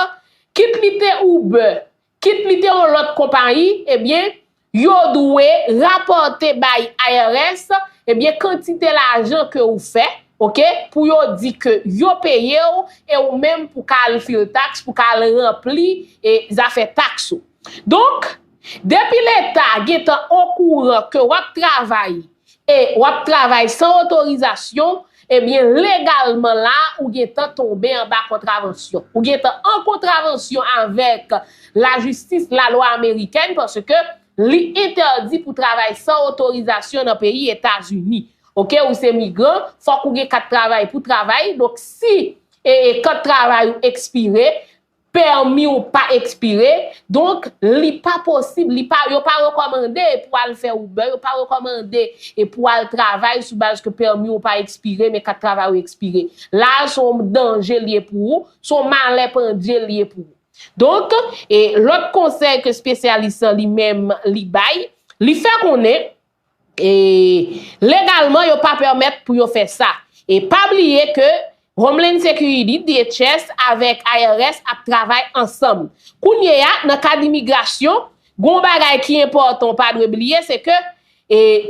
kit li te Uber, Kit li te yon lòt konpayi, ebyen, yo dwe rapòte bay IRS, ebyen, kantite lajan ke ou fè, ok, pou yo di ke yo peye ou, e ou menm pou ka al fil taks, pou ka al ranpli e zafè taks ou. Donk, depi leta gentan okouran ke wap travay, e wap travay san otorizasyon, ebyen legalman la ou gentan tonbe anba kontravansyon. Ou gentan an kontravansyon avèk lajistis, lalwa amerikèn paske li entèdi pou travay san otorizasyon nan peyi Etazini. Ok ou se migran, fòk ou gen kat travay pou travay, donk si kat travay ou ekspire, Pèmi w pa ekspire, donk li pa posib, li pa, yo pa rekòmande pou al fè Uber, yo pa rekòmande pou al travay sou baz ke pèmi w pa ekspire men kat travay ou ekspire. La a se yon danje li ye pou ou, se yon malè pandye li ye pou ou. Donk, lòt konsèy ke spesyalis lan li menm li bay, li fè konnen, E legalman yo pa pèmèt pou yo fè sa. E pa bliye ke Homeland Security, DHS, avèk IRS ap travay ansanm. Kounye a, nan kad imigrasyon, gen yon bagay ki enpòtan w pa dwe bliye, se ke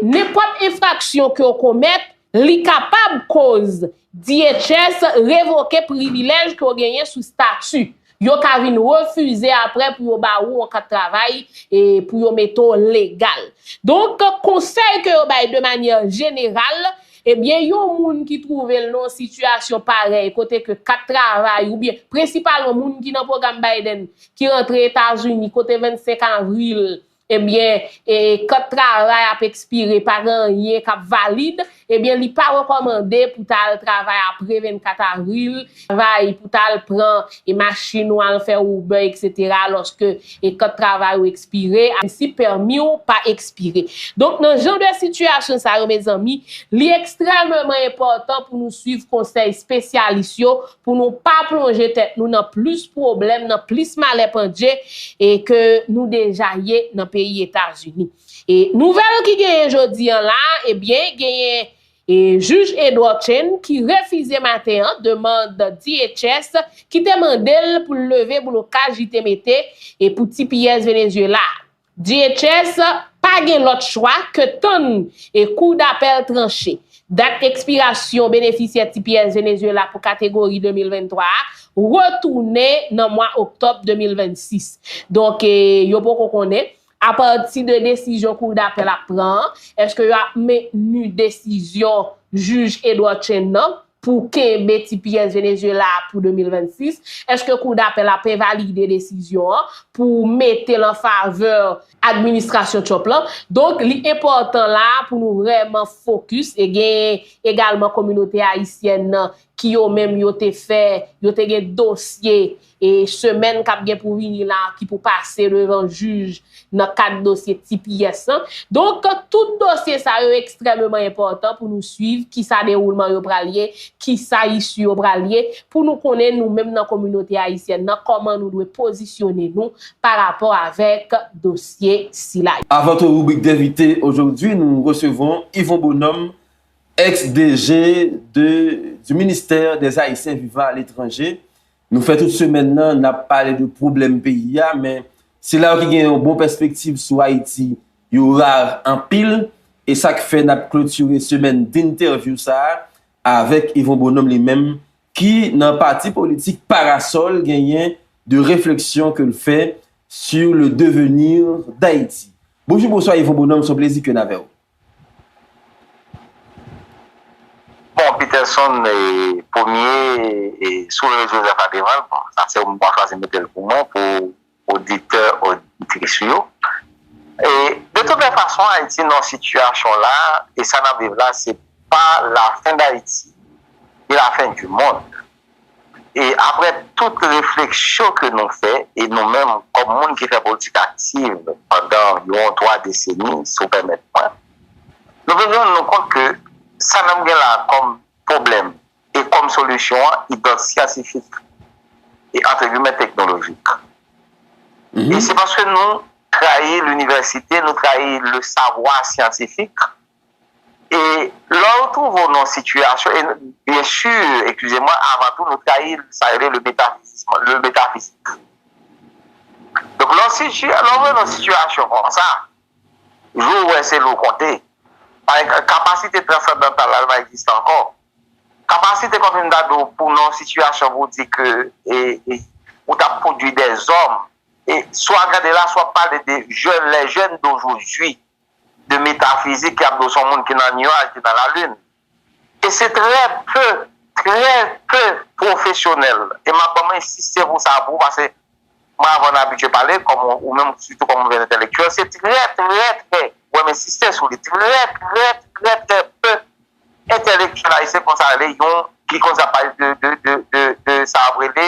nenpòt enfraksyon ke w komèt, Li kapab koz DHS revoke privilèj ke w genyen sou stati. Yo ka vin refize apre pou yo ba ou yon kat travay e pou yo mete w legal. Donk, konsèy ke yo bay de manyè jeneral, ebyen yon moun ki twouve l nan yon sitiyasyon parèy kote ke kat travay oubyen prensipalman moun ki nan pwogram Biden ki rantre Etazini kote 25 avril ebyen e kòt travay ap ekspire pa gen anyen k ap valid, ebyen li pa rekòmande pou ta al travay apre 24 avril, travay pou ta al pran e machin ou al fè Uber etc lòske e kòt travay ou ekspire, a si pèmi ou pa ekspire. Donk nan jan de sitiyasyon sa yo mezanmi, li ekstrèmeman enpòtan pou nou swiv konsèy spesyalis yo pou nou pa plonje tèt nou nan plis pwoblèm, nan plis malè pandje e ke nou deja ye nan peyi Etazini. E nouvèl ki genyen jodi an la, e byen genyen e jij Edward Chen ki refize maten an demand DHS ki te mande l pou l leve blokaj li te mete e pou tps Venezyela a. DHS pa gen lòt chwa ke tann e kou dapèl tranche. Dat ekspirasyon benefisyè tps Venezuela pou kategori 2023 a retounen nan mwa oktòb 2026. Donk yo poko konnen, apati de desizyon kou dapèl ap pran an, eske yo ap mentni desizyon jij Edward Chen nan, pou kenbe ti pyès Venezyela a pou 2026? Èske Kou Dapèl ap envalide desizyon an pou mete l an favè administrasyon Trump lan? Donk, li enpòtan la a pou nou vrèman fokis e gen egalman kominote ayisyèn nan ki yo menm yo te fè, yo te gen dosye e semèn kap gen pou vini la ki pou pase devan jij nan kad dosye tps lan. Donk tout dosye sa yo ekstrèmeman enpòtan pou nou swiv kisa dewoulman yo pral ye, kisa issu yo pral ye pou nou konnen nou menm nan kominote ayisyèn nan kòman nou dwe pozisyone nou pa rapò avèk dosye sila yo. Avan tout ribrik D'invité aujourd'hui nou resevon Yvon Bonhomme ex DG de du ministère des Haïtiens vivant à l'étranger Nou fè tout semèn nan nap pale de pwoblèm peyi a men se la yo ki gen yon bon pèspektiv sou Ayiti yo rar anpil e sak fè nap klotire semèn dentèvyou sa avèk Yvon Bonhomme li menm ki nan pati politik Parasol genyen de refleksyon ke l fè sur le devenir d'Haïti. Bonjou bonswa Yvon Bonhomme s on plezi ke n avè w. Bon Peterson premye sou rezo sosyo sa devan l bon sa se ou menm wap chwazi mete l pou mwen pou oditè oditris ou yo e de tout lè fason Ayiti nan sitiyasyon la e sa nap viv la se pa lafen dayiti ni lafen di mond. E aprè tout refleksyon ke nou fè, e nou menm kòm moun ki fè politik aktiv pandan yon 3 deseni, si w pèmèt mwen, nou vin rann nou kont ke sa nan gen la kòm pwoblèm e kòm solisyon an idant syantifik e antre gimè teknolojik. E se paske nou trayi linivèsite, nou trayi le savwa syantifik E lè ou twouve w nan yon sitiyasyon, e byen si, eskize mwen, avan tou nou trayi sa yo rele le metafizism, le metaphysique. Donk lè w siti, lè w wè nan sitiyasyon kon sa, jou ou wè se lè ou konte, pa e, kapasite transandantal la li pa egziste ankò. Kapasite kòm si m ta di w pou nan yon sitiyasyon pou w di ke e, e ou ta pwodui dè zòm, e si w a gade la, si w a pale de jèn, les jeunes d'aujourd'hui. de metafizik ki ap di w se yon moun ki nan nuaj, ki nan lalin. E se trè pe, trè pe pwofesyonèl. E m ap ban m ensiste pou sa pou ou pase mwen avè w nou abitye pale kòm ou menm sitou kòm yon entèlektyèl. Se trè, trè, trè, wè m ensiste sou li, trè, trè, trè, trè pe entèlektyèl ayisyen ki konn sa rele yon, ki konn sa pale de, de, de, de, de sa yo ap rele.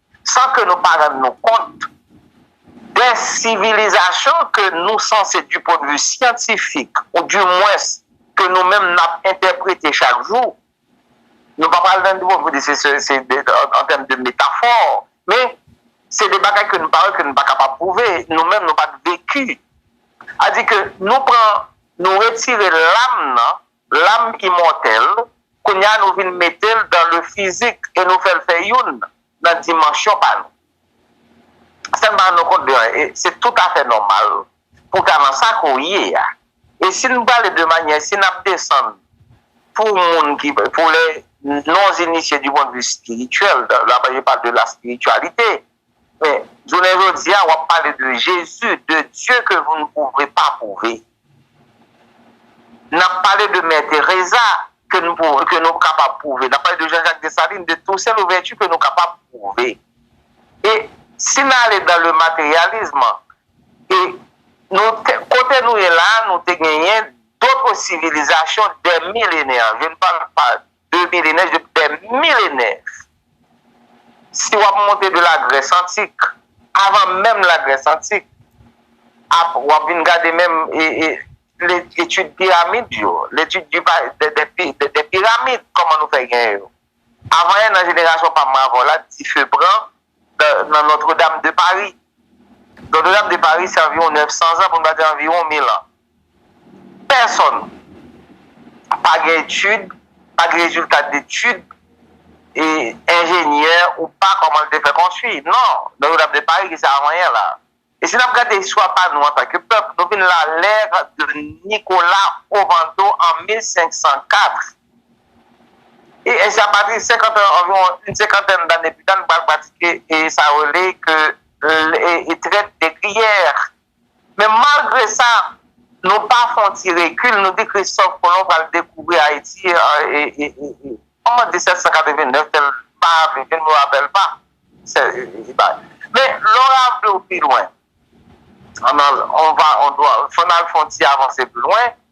san ke nou pa rann nou kont de sivilizasyon ke nou sanse di pwen de vi syantifik ou di mwens ke nou menm n ap entèprete chak jou, nou pa pral nan nivo pou di se an tèm de metafò, men se de bagay ke nou pa wè, ke nou pa kapab pwouve, nou menm nou pa t veki. A di ke nou pran, nou retire lam nan. Lam imòtèl, kounye a nou vin mete l dan le fizik e nou fè l fè youn nan dimansyon pa nou. San n pa rann nou kont de anyen, e se tout afè nòmal pou w ta nan sa ke w ye a. E si n pale de manyè, si n ap desann pou moun ki, pou les non-initiés du point de vue spirituel, la Bible parle de la spiritualité, Men, jounen jodi a, w ap pale de Jezi, de Dye ke nou n pwouve pa pwouve. N ap pale de Mè Teresa ke nou kapab pwouve. N ap pale de Jean-Jacques Dessalines, de Toussaint Louverture ke nou kapab pwouve. E si n ale dan le materialism, e nou te, kote nou ye la a, nou te genyen dotre sivilizasyon dè milenè. Je ne parle pas. 2 milenè jouk dè milenè. Si w ap monte de la Grès antik, avan menm la Grès antik, ap w ap vin gade menm etid piramid yo, etid de piramid, kòman nou fè gen yo. Avan yè nan jenerasyon pa m mwen avè w la, dife pran nan Notre Dame de Paris. Notre Dame de Paris se anviwon 900 zan pou n pa di anviwon 1000 an. Pèsòn pa gen etid, pa gen rezilta detid e enjenyè ou pa kòman l te fè konstwi. Non, Don Jodha vle pale ki sa avanyen la. E si n ap gade istwa pa nou antanke pèp, nou vin la l'ère de Nicolas Ovando an 1504. E ensi a pati de senkant an, anviwon in senkantèn dane pita, nou pral pratike e sa yo rele ke e trèt de griyè. Men malgre sa, nou pa fè yon ti rekil, nou di Kristòf Kolon pral dekouvri Ayiti an 1789, ke l pa viv, je ne me rappelle pas. Men lè w ranvle w pi lwen, fò n al fè yon ti avanse pi lwen,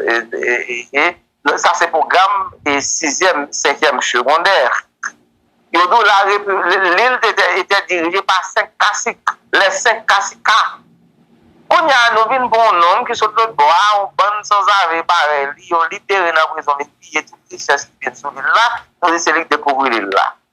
Lè sa se pwogram sizyèm, senkyèm segondè. Yo di w la lil te te dirije pa senk kasik, lè senk kasika. Kounye a nou vin pran yon nonm ki sot lotbò a, yon bann sanzave parèy li, yo libere nan prizon li piye tout richès ki te sou lil la, nou di se li ki dekouvri lil la.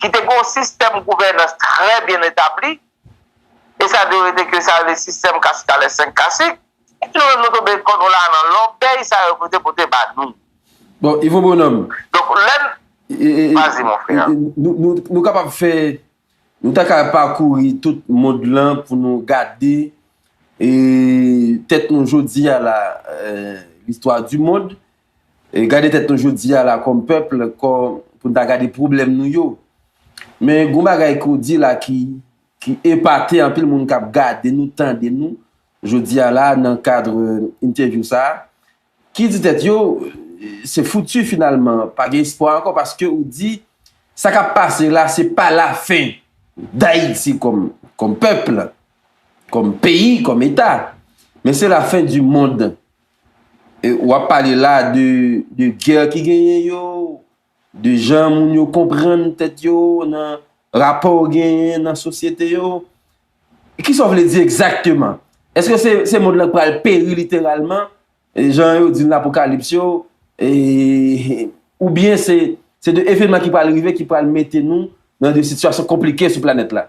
ki te gen yon sistèm gouvènans trè byen etabli, e sa dwe rete ke sa yo rele sistèm kasikale senk kasik, epi nou menm nou tonbe kò nou la nan lòbèy sa yo pote pote ba nou. Bon, Ivo Bonhomme. Donk lè n. Vas-y mon frère. Nou kapab fè, nou ta ka pakouri tout mond lan pou nou gade tèt nou jodi a la, l'histoire du monde, Gade tèt nou jodi a la kòm pèp kò pou n ta gade pwoblèm nou yo. Men gen yon bagay ke w di la ki ki epate anpil moun k ap gade nou, tande nou jodi a la nan kadre entèvyou sa a ki di tèt yo se fouti finalman pa gen espwa ankò paske ou di sa k ap pase la se pa lafen Dayiti kòm kòm pèp, kòm peyi, kòm eta men se lafen di mond Wap pale la de guerre ki genyen yo, de jan moun yo konprann tèt yo nan rapò ou genyen nan sosyete yo. Kisa ou vle di egzakteman? Eske se mond lan k pral peri literalman, jan yo di nan apokalips yo, oubyen se de evenman ki pral rive ki pral mete nou nan de sitiyasyon konplike sou planèt la?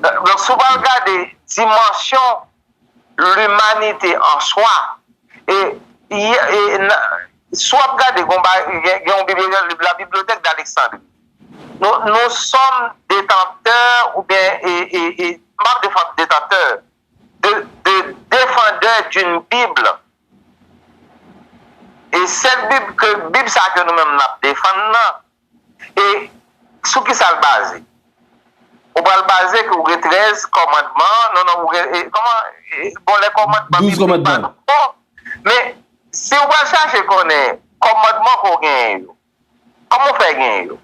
Donk si w pral gade dimansyon limanite an swa, e si w ap gade gen yon bibliyotèk, la bibliothèque d'Alexandrie, nou sòm detantè oubyen e, m ap defann detantè, de defandè d'une bible e sèt bib ke, bib sa ke nou menm n ap defann nan, E sou ki sa l baze? Ou pral baze ke ou gen 13 kòmandman, non non ou gen, kòman, bon lè kòmandman biblik pa nou bon, men si ou pral chache konnen kòmandman ke w genyen yo, kòman ou fè genyen yo?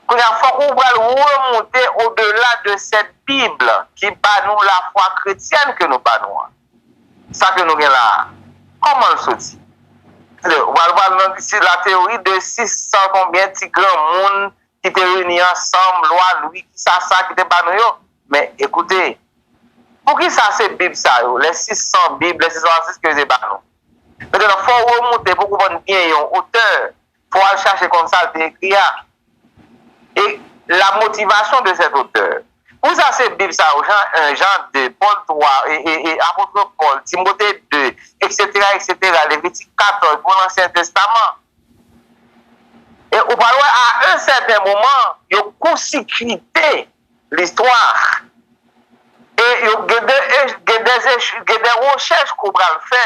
Kounye a fòk ou pral remonte odela de sèt bib ki ba nou lafwa kretyèn ke nou ba nou an. Sa ke nou gen la a, kòman l soti? Alò, ou pral wè nan sur la théorie de 600 konbyen ti granmoun ki te reyini ansanm, lwa Lwi ki sa sa ki te ba nou yo. Men, ekoute, poukisa se Bib sa yo, les 600 Bibles, les 666 ke yo te ba nou? Mettenan, fò ou remoute pou w konprann byen yon otè pou al chache konn sa l te ekri a e la motivation de cet auteur. Pou sa se Bib sa yo, Jan 1, Jan 2, Pòl 3, Apôtre Pòl, Timothée 2, eksetera, eksetera, Levitik 14, pou Lansyen Testaman. E ou pral wè a un certain moment yo kousikite listwa e yo gen de rechèch ke w pral fè.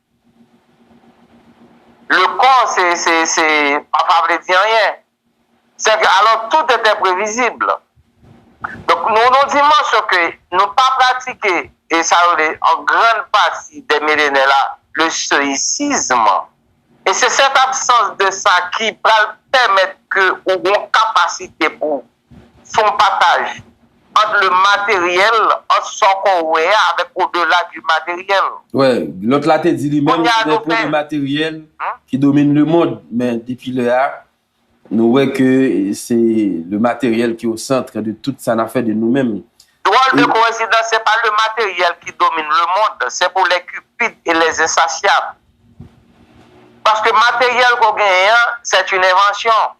Le kò se, se, se pa pa vle di anyen. Sèke alò tout etè previzib. Donk nou nan yon dimansyon ke nou pa pratike e sa yo rele an grann pati dè milenè la le stoïcism. E se sèt absans de sa ki pral pèmèt ke ou gen yon kapasite pou Se yon pataj ant le materyèl, ant sa w kò w wè a avèk odela di materyèl. Wè, lòt la te di li menm li gen pwoblèm materyèl ki domine le mond, men depi lè a, nou wè ke se le materyèl ki o centre de tout sa n ap fè de nou menm. Dròl de koensidans, se pa le materyèl ki domine le mond, se pou les cupides et les insatiables. Paske materyèl ke w genyen an, c'est une invention.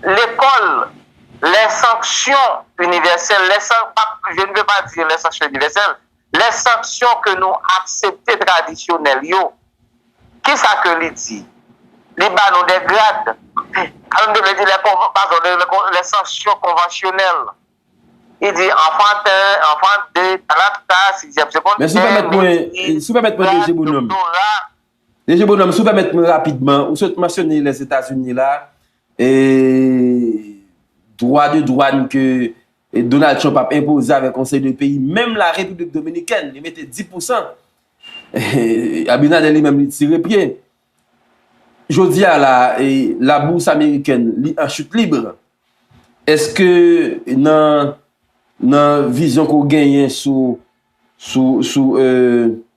Lekòl, lè sanksyon inivèsèl, lè san, pa, je ne veux pas dire lè sanksyon inivèsèl, lè sanksyon ke nou aksepte tradisyonèl yo, ki sa ke li di? Li ba nou de grad. An nou vle di lè konvan, padon, lè sanksyon konvansyonèl. Li di enfant 1, enfant 2, talapta, sizyèm segondè, mèsi, grad, doktora. Deje bonòm si w pèmèt mwen rapidman, ou sot mansyone Lèzetazini la, e dwa de dwàn ke Donald Trump ap enpoze avèk yon seri de peyi, menm la Repiblik Dominikèn li mete 10 pousan, Abinader li menm li tire pye. Jodi a la, la bourse amerikèn li an chute libre, èske nan vizyon ke w genyen sou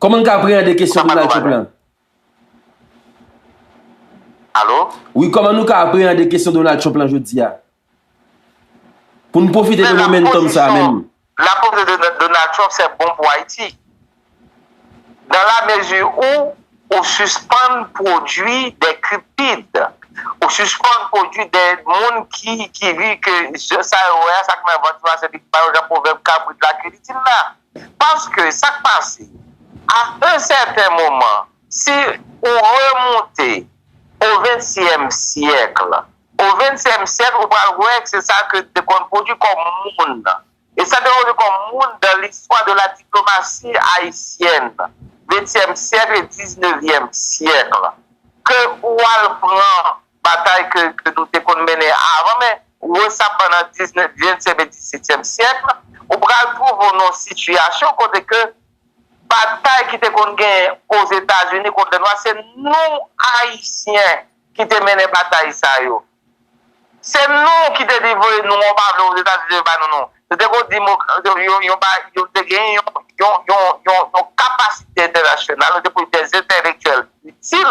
Koman nou ka apreyande kesyon Donald Trump lan? Alo? Wi, koman nou ka apreyande kesyon Donald Trump lan jodi a? Pou nou pwofite de momentum sa menm. La pozisyon de Donald Trump se bon pou Ayiti. Dan la mezi ou, ou sispann pwodui de kriptid. Ou sispann pwodui de moun ki di ke sa yo wè a, sa ki nan vant yo a se li ki ba yo jan pwovèb kabrit la ke li di l la. Paske sa k pase, a un sèten moman, si ou remoute o ventyèm syèkl, o ventyèm syèkl ou pral wè k se sa ke te konn pwodui kòm moun, e sa te pwodui kòm moun dan listwa de la diplomasi ayisyèn, ventyèm syèkl e diznevyèm syèkl, ke ou al pran batay ke nou te konn mennen avan men wè sa pandan ventyèm e disyetyèm syèk la ou pral twouve w nan yon sitiyasyon kote ke batay ki te konn genyen ozetazini kont lènwa se nou ayisyen ki te mennen batay sa yo se nou ki te di voye nou an pa vle ozetazini vle ba nou nou nou te konn di nou te genyen yon yon yon yon kapasite entènasyonal nou te konn gen dèz entèlektyèl itil